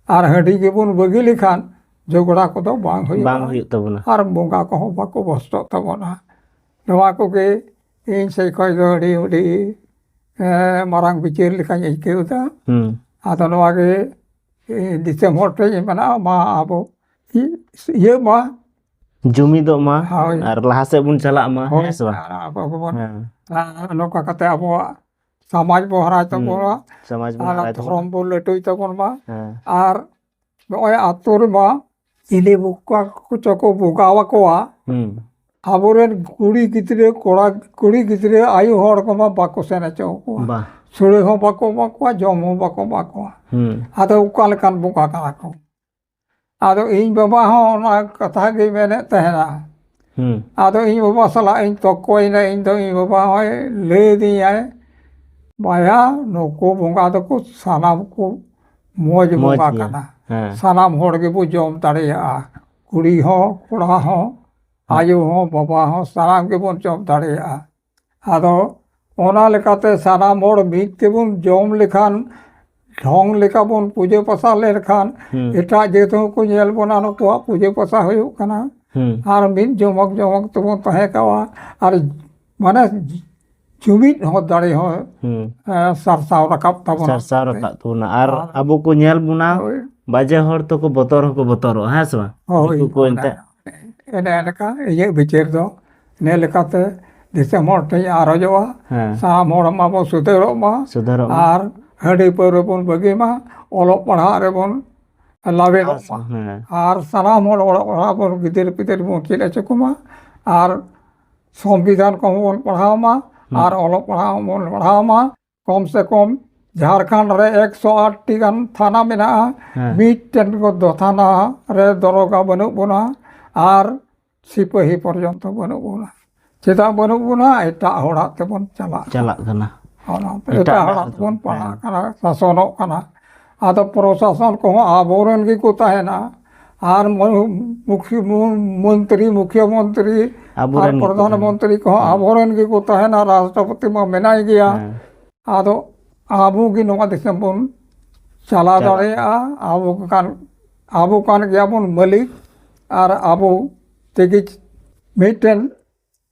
ᱟᱨ ᱦᱟᱺᱰᱤ ᱜᱮᱵᱚᱱ ᱵᱟᱹᱜᱤ ᱞᱮᱠᱷᱟᱱ ᱡᱷᱚᱜᱽᱲᱟ ᱠᱚᱫᱚ ᱵᱟᱝ ᱦᱩᱭᱩᱜᱼᱟ ᱵᱟᱝ ᱦᱩᱭᱩᱜ ᱛᱟᱵᱚᱱᱟ ᱟᱨ ᱵᱚᱸᱜᱟ ᱠᱚᱦᱚᱸ ᱵᱟᱠᱚ ᱵᱚᱥᱛᱚᱜ ᱛᱟᱵᱚᱱᱟ ᱱᱚᱣᱟ ᱠᱚᱜᱮ ᱤᱧ ᱥᱮᱫ ᱠᱷᱚᱱ ᱫᱚ ᱟᱹᱰᱤ ᱟᱹᱰᱤ ᱢᱟᱨᱟᱝ ᱵᱤᱪᱟᱹᱨ ᱞᱮᱠᱟᱧ ᱟᱹᱭᱠᱟᱹᱣ ᱮᱫᱟ ᱟᱫᱚ ᱱᱚᱣᱟ ᱜᱮ ᱫᱤᱥᱚᱢ ᱦᱚᱲ ᱴᱷᱮᱱ ᱤᱧ ᱢᱮᱱᱟ ᱢᱟ ᱟᱵᱚ ᱤᱭᱟᱹ ᱢᱟ ᱡᱩᱢᱤᱫᱚᱜ ᱢᱟ ᱟᱨ ᱞᱟᱦᱟ ᱥᱮᱫ ᱵᱚᱱ ᱪᱟᱞᱟᱜ ᱢᱟ ᱦᱮᱸ ᱥᱮ ᱵᱟᱝ ᱟᱵᱚ ᱵᱚᱱ ᱱᱚᱝᱠᱟ ᱠᱟᱛᱮ ᱟᱵᱚᱣᱟᱜ ᱥᱚᱢᱟᱡᱽ ᱵᱚᱱ ᱦᱟᱨᱟᱭ ᱛᱟᱵᱚᱱᱟ ᱥᱚᱢᱟᱡᱽ ᱵᱚᱱ ᱦᱟᱨᱟᱭ ᱛᱟᱵᱚᱱᱟ ᱫᱷᱚᱨᱚᱢ ᱵᱚᱱ ᱞᱟᱹᱴᱩᱭ ᱛᱟᱵᱚᱱ ᱢᱟ ᱟᱨ ᱱᱚᱜᱼᱚᱭ ᱟᱛᱳ ᱨᱮᱢᱟ ᱪᱤᱞᱤ ᱵᱚᱠᱟ ᱠᱚᱪᱚ ᱠᱚ ᱵᱚᱸᱜᱟᱣ ᱟᱠᱚᱣᱟ ᱦᱩᱸ ᱟᱵᱚᱨᱮᱱ ᱠᱩᱲᱤ ᱜᱤᱫᱽᱨᱟᱹ ᱠᱚᱲᱟ ᱠᱩᱲᱤ ᱜᱤᱫᱽᱨᱟᱹ ᱟᱭᱳ ᱦᱚᱲ ᱠᱚᱢᱟ ᱵᱟᱠᱚ ᱥᱮᱱ ᱦᱚᱪᱚ ᱟᱠᱚᱣᱟ ᱵᱟ ᱥᱩᱲᱟᱹ ᱦᱚᱸ ᱵᱟᱠᱚ ᱮᱢᱟ ᱠᱚᱣᱟ ᱡᱚᱢ ᱦᱚᱸ ᱵᱟᱠᱚ ᱮᱢᱟ ᱠᱚᱣᱟ ᱦᱩᱸ ᱟᱫᱚ ᱚᱠᱟ ᱞᱮᱠᱟᱱ ᱵᱚᱸᱜᱟ ᱠᱟᱱᱟ ᱠᱚ ᱟᱫᱚ ᱤᱧ ᱵᱟᱵᱟ ᱦᱚᱸ ᱚᱱᱟ ᱠᱟᱛᱷᱟ ᱜᱮᱭ ᱢᱮᱱᱮᱫ ᱛᱟᱦᱮᱱᱟ ᱟᱫᱚ ᱤᱧ ᱵᱟᱵᱟ ᱥᱟᱞᱟᱜ ᱤᱧ ᱛᱚᱠᱠᱚᱭᱮᱱᱟ ᱤᱧ ᱫᱚ ᱤᱧ ᱵᱟᱵᱟ ᱦᱚᱸᱭ ᱞᱟᱹᱭ ᱟᱹᱫᱤᱧᱟᱭ ᱵᱟᱭᱟ ᱱᱩᱠᱩ ᱵᱚᱸᱜᱟ ᱫᱚᱠᱚ ᱥᱟᱱᱟᱢ ᱠᱚ ᱢᱚᱡᱽ ᱵᱚᱸᱜᱟ ᱠᱟᱱᱟ ᱥᱟᱱᱟᱢ ᱦᱚᱲ ᱜᱮᱵᱚ ᱡᱚᱢ ᱫᱟᱲᱮᱭᱟᱜᱼᱟ ᱠᱩᱲᱤ ᱦᱚᱸ ᱠᱚᱲᱟ ᱦᱚᱸ ᱟᱭᱳ ᱦᱚᱸ ᱵᱟᱵᱟ ᱦᱚᱸ ᱥᱟᱱᱟᱢ ᱜᱮᱵᱚᱱ ᱡᱚᱢ ᱫᱟᱲᱮᱭᱟᱜᱼᱟ ᱟᱫᱚ ᱚᱱᱟ ᱞᱮᱠᱟᱛᱮ ᱥᱟᱱᱟᱢ ᱦᱚᱲ ᱢᱤᱫ ᱛᱮᱵᱚᱱ ᱡᱚᱢ ᱞᱮᱠᱷᱟᱱ ᱰᱷᱚᱝ ᱞᱮᱠᱟ ᱵᱚᱱ ᱯᱩᱡᱟᱹ ᱯᱟᱥᱟ ᱞᱮᱱᱠᱷᱟᱱ ᱮᱴᱟᱜ ᱡᱟᱹᱛ ᱦᱚᱸᱠᱚ ᱧᱮᱞ ᱵᱚᱱᱟ ᱱᱩᱠᱩᱣᱟᱜ ᱯᱩᱡᱟᱹ ᱯᱟᱥᱟ ᱦᱩᱭᱩᱜ ᱠᱟᱱᱟ ᱟᱨ ᱢᱤᱫ ᱡᱚᱢᱚᱠ ᱡᱚᱢᱚᱠ ᱛᱮᱵᱚᱱ ᱛᱟᱦᱮᱸ ᱠᱚᱜᱼᱟ ᱟᱨ ᱢᱟᱱᱮ ᱡᱩᱢᱤᱫ ᱦᱚᱸ ᱫᱟᱲᱮ ᱦᱚᱸ ᱥᱟᱨᱥᱟᱣ ᱨᱟᱠᱟᱵ ᱛᱟᱵᱚᱱᱟ ᱥᱟᱨᱥᱟᱣ ᱨᱟᱠᱟᱵ ᱛᱟᱵᱚᱱᱟ ᱟᱨ ᱟᱵᱚ ᱠᱚ ᱧᱮᱞ ᱵᱚᱱᱟ ᱵᱟᱡᱮ ᱦᱚᱲ ᱛᱚᱠᱚ ᱵᱚᱛᱚᱨ ᱦᱚᱸᱠᱚ ᱵᱚᱛᱚᱨᱚᱜᱼᱟ ᱦᱮᱸ ᱥᱮ ᱵᱟᱝ ᱦᱳᱭ ᱫᱤᱠᱩ ᱠᱚ ᱮᱱᱛᱮᱫ ᱮᱱᱮ ᱮᱱᱠᱟ ᱤᱧᱟᱹᱜ ᱵᱤᱪᱟᱹᱨ ᱫᱚ ᱱᱮ ᱞᱮᱠᱟᱛᱮ ᱫᱤᱥᱚᱢ ᱦᱚᱲ ᱴᱷᱮᱱ ᱟᱨᱚᱡᱚᱜᱼᱟ ᱦᱮᱸ ᱥᱟᱱᱟᱢ ᱦᱚᱲ ᱢᱟᱵᱚᱱ ᱥᱩᱫᱷᱟᱹᱨᱚᱜ ᱢᱟ ᱥᱩᱫᱷᱟᱹᱨᱚᱜ ᱢᱟ ᱟᱨ ᱦᱟᱺᱰᱤ ᱯᱟᱹᱣᱨᱟᱹ ᱵᱚᱱ ᱵᱟᱹᱜᱤ ᱢᱟ ᱚᱞᱚᱜ ᱯᱟᱲᱦᱟᱜ ᱨᱮᱵᱚᱱ ᱞᱟᱵᱮᱫᱚᱜ ᱢᱟ ᱦᱮᱸ ᱟᱨ ᱥᱟᱱᱟᱢ ᱦᱚᱲ ᱚᱞᱚᱜ ᱯᱟᱲᱦᱟᱜ ᱵᱚᱱ ᱜᱤᱫᱟᱹᱨ ᱯᱤᱫᱟᱹᱨ ᱵᱚᱱ ᱪᱮᱫ ᱦᱚᱪᱚ ᱠᱚᱢᱟ ᱟᱨ ᱥᱚᱝᱵᱤᱫᱷᱟᱱ ᱠᱚᱦᱚᱸ ᱵᱚᱱ ᱯᱟᱲᱦᱟᱣ ᱢᱟ ᱟᱨ ᱚᱞᱚᱜ ᱯᱟᱲᱦᱟᱜ ᱦᱚᱸᱵᱚᱱ ᱯᱟᱲᱦᱟᱣ ᱢᱟ ᱠᱚᱢ ᱥᱮ ᱠᱚᱢ ᱡᱷᱟᱲᱠᱷᱚᱸᱰ ᱨᱮ ᱮᱠᱥᱚ ᱟᱴᱴᱤ ᱜᱟᱱ ᱛᱷᱟᱱᱟ ᱢᱮᱱᱟᱜᱼᱟ ᱦᱮᱸ ᱢᱤᱫᱴᱮᱱ ᱫᱚ ᱛᱷᱟᱱᱟ ᱨᱮ ᱫᱚᱨᱚᱜᱟ ᱵᱟᱹᱱᱩᱜ ᱵᱚᱱᱟ ᱟᱨ ᱥᱤᱯᱟᱹᱦᱤ ᱯᱚᱨᱡᱚᱱᱛᱚ ᱵᱟᱹᱱᱩᱜ ᱵᱚᱱᱟ ᱪᱮᱫᱟᱜ ᱵᱟᱹᱱᱩᱜ ᱵᱚᱱᱟ ᱮᱴᱟᱜ ᱦᱚᱲᱟᱜ ᱛᱮᱵᱚᱱ ᱪᱟᱞᱟᱜ ᱪᱟᱞᱟᱜ ᱠᱟᱱᱟ ᱚᱱᱟᱛᱮ ᱮᱴᱟᱜ ᱮᱴᱟᱜ ᱦᱚᱲᱟᱜ ᱦᱚᱲᱟᱜ ᱛᱮᱵᱚᱱ ᱛᱮᱵᱚᱱ ᱯᱟᱲᱟᱜ ᱠᱟᱱᱟ ᱥᱟᱥᱚᱱᱚᱜ ᱠᱟᱱᱟ ᱟᱫᱚ ᱯᱨᱚᱥᱟᱥᱚᱱ ᱠᱚᱦᱚᱸ ᱟᱵᱚᱨᱮᱱ ᱜᱮᱠᱚ ᱛᱟᱦᱮᱱᱟ ᱟᱨ ᱢᱩᱠᱷᱤ ᱢᱚᱱᱛᱨᱤ ᱢᱩᱠᱷᱤᱭᱟᱹ ᱢᱚᱱᱛᱨᱤ ᱟᱨ ᱯᱨᱚᱫᱷᱟᱱ ᱢᱚᱱᱛᱨᱤ ᱠᱚᱦᱚᱸ ᱟᱵᱚᱨᱮᱱ ᱜᱮᱠᱚ ᱛᱟᱦᱮᱱᱟ ᱨᱟᱥᱴᱨᱚᱯᱚᱛᱤ ᱢᱟ ᱢᱮᱱᱟᱭ ᱜᱮᱭᱟ ᱟᱫᱚ ᱟᱵᱚ ᱜᱮ ᱱᱚᱣᱟ ᱫᱤᱥᱚᱢ ᱵᱚᱱ ᱪᱟᱞᱟᱣ ᱫᱟᱲᱮᱭᱟᱜᱼᱟ ᱟᱵᱚ ᱠᱟᱱ ᱟᱵᱚ ᱠᱟᱱ ᱜᱮᱭᱟᱵᱚᱱ ᱢᱟᱹᱞᱤᱠ ᱟᱨ ᱟᱵᱚ ᱛᱮᱜᱮ ᱢᱤᱫᱴᱮᱱ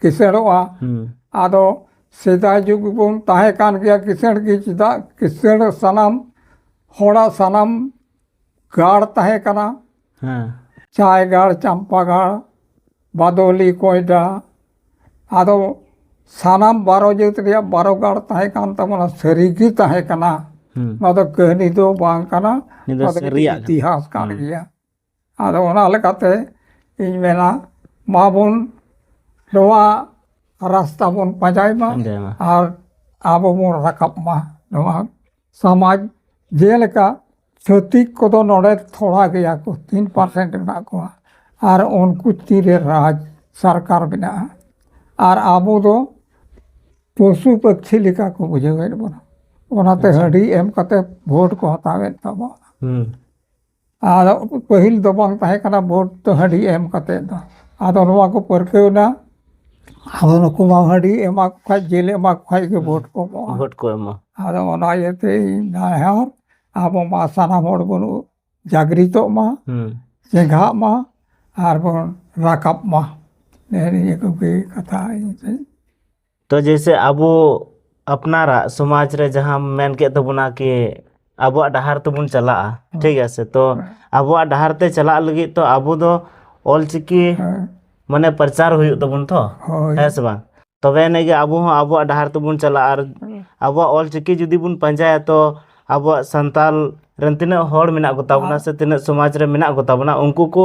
ᱠᱤᱥᱟᱹᱬᱚᱜᱼᱟ ᱟᱫᱚ ᱥᱮᱫᱟᱭ ᱡᱩᱜᱽ ᱵᱚᱱ ᱛᱟᱦᱮᱸ ᱠᱟᱱ ᱜᱮᱭᱟ ᱠᱤᱥᱟᱹᱬ ᱜᱮ ᱪᱮᱫᱟᱜ ᱠᱤᱥᱟᱹᱬ ᱥᱟᱱᱟᱢ ᱦᱚᱲᱟᱜ ᱥᱟᱱᱟᱢ ᱜᱟᱲ ᱛᱟᱦᱮᱸ ᱠᱟᱱᱟ ᱪᱟᱭ ᱜᱟᱲ ᱪᱟᱢᱯᱟ ᱜᱟᱲ ᱵᱟᱫᱚᱞᱤ ᱠᱚᱭᱰᱟ ᱟᱫᱚ ᱥᱟᱱᱟᱢ ᱵᱟᱨᱚ ᱡᱟᱹᱛ ᱨᱮᱭᱟᱜ ᱵᱟᱨᱚ ᱜᱟᱲ ᱛᱟᱦᱮᱸ ᱠᱟᱱ ᱛᱟᱵᱚᱱᱟ ᱥᱟᱹᱨᱤᱜᱮ ᱛᱟᱦᱮᱸ ᱠᱟᱱᱟ ᱱᱚᱣᱟ ᱫᱚ ᱠᱟᱹᱦᱱᱤ ᱫᱚ ᱵᱟᱝ ᱠᱟᱱᱟ ᱱᱚᱣᱟ ᱫᱚ ᱤᱛᱤᱦᱟᱥ ᱠᱟᱱ ᱜᱮᱭᱟ ᱟᱫᱚ ᱚᱱᱟ ᱞᱮᱠᱟᱛᱮ ᱤᱧ ᱢᱮᱱᱟ ᱢᱟ ᱵᱚᱱ ᱱᱚᱣᱟ ᱨᱟᱥᱛᱟ ᱵᱚᱱ ᱯᱟᱸᱡᱟᱭ ᱢᱟ ᱟᱨ ᱟᱵᱚ ᱵᱚᱱ ᱨᱟᱠᱟᱵ ᱢᱟ ᱱᱚᱣᱟ ᱥᱚᱢᱟᱡᱽ ᱡᱮᱞᱮᱠᱟ ᱪᱷᱟᱹᱛᱤᱠ ᱠᱚᱫᱚ ᱱᱚᱰᱮ ᱛᱷᱚᱲᱟ ᱜᱮᱭᱟ ᱠᱚ ᱛᱤᱱ ᱯᱟᱨᱥᱮᱱᱴ ᱢᱮᱱᱟᱜ ᱠᱚᱣᱟ ᱟᱨ ᱩᱱᱠᱩ ᱛᱤᱨᱮ ᱨᱟᱡᱽ ᱥᱚᱨᱠᱟᱨ ᱢᱮᱱᱟᱜᱼᱟ ᱟᱨ ᱟᱵᱚ ᱫᱚ ᱯᱚᱥᱩ ᱯᱟᱹᱠᱷᱤ ᱞᱮᱠᱟ ᱠᱚ ᱵᱩᱡᱷᱟᱹᱣᱮᱫ ᱵᱚᱱᱟ ᱚᱱᱟᱛᱮ ᱦᱟᱺᱰᱤ ᱮᱢ ᱠᱟᱛᱮ ᱵᱷᱳᱴ ᱠᱚ ᱦᱟᱛᱟᱣᱮᱫ ᱛᱟᱵᱚᱱᱟ ᱟᱫᱚ ᱯᱟᱹᱦᱤᱞ ᱫᱚ ᱵᱟᱝ ᱛᱟᱦᱮᱸ ᱠᱟᱱᱟ ᱵᱷᱳᱴ ᱫᱚ ᱦᱟᱺᱰᱤ ᱮᱢ ᱠᱟᱛᱮᱫ ᱫᱚ ᱟᱫᱚ ᱱᱚᱣᱟ ᱠᱚ ᱯᱟᱹᱨᱠᱟᱹᱣ ᱮᱱᱟ ᱟᱫᱚ ᱱᱩᱠᱩ ᱢᱟ ᱦᱟᱺᱰᱤ ᱮᱢᱟ ᱠᱚ ᱠᱷᱟᱡ ᱡᱤᱞ ᱮᱢᱟ ᱠᱚ ᱠᱷᱟᱡ ᱜᱮ ᱵᱷᱳᱴ ᱠᱚ ᱮᱢᱚᱜᱼᱟ ᱵᱷᱳᱴ ᱠᱚ ᱮᱢᱟ ᱟᱫᱚ ᱚᱱᱟ ᱤᱭᱟᱹᱛᱮ ᱤᱧ ᱱᱮᱦᱚᱨ ᱟᱵᱚ ᱢᱟ ᱥᱟᱱᱟᱢ ᱦᱚᱲ ᱵᱚᱱ ᱡᱟᱜᱽᱨᱤᱛᱚᱜ ᱢᱟ ᱦᱩᱸ ᱪᱮᱸᱜᱷᱟᱜ ᱢᱟ ᱟᱨ ᱵᱚᱱ ᱨᱟᱠᱟᱵ ᱢᱟ ᱱᱮᱜᱼᱮ ᱱᱤᱭᱟᱹ ᱠᱚᱜᱮ ᱠᱟᱛᱷᱟ ᱤᱧ ᱫᱩᱧ ᱛᱚ ᱡᱮᱭᱥᱮ ᱟᱵᱚ ᱟᱯᱱᱟᱨᱟᱜ ᱥᱚᱢᱟᱡᱽ ᱨᱮ ᱡᱟᱦᱟᱸ ᱢᱮᱱ ᱠᱮᱫ ᱛᱟᱵᱚᱱᱟ ᱠᱤ ᱟᱵᱚᱣᱟᱜ ᱰᱟᱦᱟᱨ ᱛᱮᱵᱚᱱ ᱪᱟᱞᱟᱜᱼᱟ ᱴᱷᱤᱠ ᱜᱮᱭᱟ ᱥᱮ ᱛᱚ ᱟᱵᱚᱣᱟᱜ ᱰᱟᱦᱟᱨ ᱛᱮ ᱪᱟᱞᱟᱜ ᱞᱟᱹᱜᱤᱫ ᱛᱚ ᱟᱵᱚ ᱫᱚ ᱚᱞᱪᱤᱠᱤ ᱢᱟᱱᱮ ᱯᱨᱚᱪᱟᱨ ᱦᱩᱭᱩᱜ ᱛᱟᱵᱚᱱ ᱛᱚ ᱦᱳᱭ ᱦᱮᱸ ᱥᱮ ᱵᱟᱝ ᱛᱚᱵᱮ ᱟᱹᱱᱤᱡ ᱜᱮ ᱟᱵᱚ ᱦᱚᱸ ᱟᱵᱚᱣᱟᱜ ᱰᱟᱦᱟᱨ ᱛᱮᱵᱚᱱ ᱪᱟᱞᱟᱜᱼᱟ ᱟᱨ ᱟᱵᱚᱣᱟᱜ ᱚᱞᱪᱤᱠᱤ ᱡᱩᱫᱤ ᱵᱚᱱ ᱯᱟᱸᱡᱟᱭᱟ ᱛᱚ ᱟᱵᱚᱣᱟᱜ ᱥᱟᱱᱛᱟᱞ ᱨᱮᱱ ᱛᱤᱱᱟᱹᱜ ᱦᱚᱲ ᱢᱮᱱᱟᱜ ᱠᱚᱛᱟ ᱵᱚᱱᱟ ᱥᱮ ᱛᱤᱱᱟᱹᱜ ᱥᱚᱢᱟᱡᱽ ᱨᱮ ᱢᱮᱱᱟᱜ ᱠᱚᱛᱟ ᱵᱚᱱᱟ ᱩᱱᱠᱩ ᱠᱚ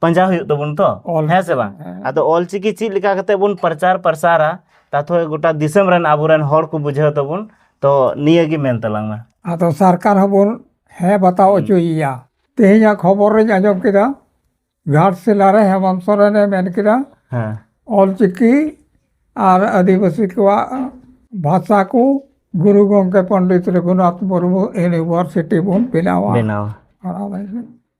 ᱯᱟᱸᱡᱟ ᱦᱩᱭᱩᱜ ᱛᱟᱵᱚᱱ ᱛᱚ ᱚᱞ ᱦᱮᱸ ᱥᱮ ᱵᱟᱝ ᱦᱮᱸ᱾ ᱟᱫᱚ ᱚᱞᱪᱤᱠᱤ ᱪᱮᱫ ᱞᱮᱠᱟ ᱠᱟᱛᱮ ᱵᱚᱱ ᱯᱨᱚᱪᱟᱨ ᱯᱨᱚᱥᱟᱨᱟ ᱛᱟᱛᱷᱚ ᱜᱚᱴᱟ ᱫᱤᱥᱚᱢ ᱨᱮᱱ ᱟᱵᱚᱨᱮᱱ ᱦᱚᱲ ᱠᱚ ᱵᱩᱡᱷᱟᱹᱣ ᱛᱟᱵᱚᱱ ᱛᱚ ᱱᱤᱭᱟᱹ ᱜᱮ ᱢᱮᱱ ᱛᱟᱞᱟᱝ ᱢᱮ ᱟᱫᱚ ᱥᱚᱨᱠᱟᱨ ᱦᱚᱸᱵᱚᱱ ᱦᱮᱸ ᱵᱟᱛᱟᱣ ᱦᱚᱪᱚᱭᱮᱭᱟ ᱛᱮᱦᱮᱧᱟᱜ ᱠᱷᱚᱵᱚᱨ ᱨᱤᱧ ᱟᱸᱡᱚᱢ ᱠᱮᱫᱟ ᱜᱷᱟᱴᱥᱤᱞᱟ ᱨᱮ ᱦᱮᱢᱚᱱᱛ ᱥᱚᱨᱮᱱᱮ ᱢᱮᱱ ᱠᱮᱫᱟ ᱦᱮᱸ ᱚᱞᱪᱤᱠᱤ ᱟᱨ ᱟᱹᱫᱤᱵᱟᱹᱥᱤ ᱠᱚᱣᱟᱜ ᱵᱷᱟᱥᱟ ᱠᱚ ᱜᱩᱨᱩ ᱜᱚᱢᱠᱮ ᱯᱚᱱᱰᱤᱛ ᱨᱚᱜᱷᱩᱱᱟᱛᱷ ᱢᱩᱨᱢᱩ ᱤᱭᱩᱱᱤᱵᱷᱟᱨᱥᱤᱴᱤ ᱵᱚᱱ ᱵᱮᱱᱟᱣᱟ ᱵᱮᱱᱟᱣ ᱚᱱᱟ ᱞᱟᱹᱜᱤᱫ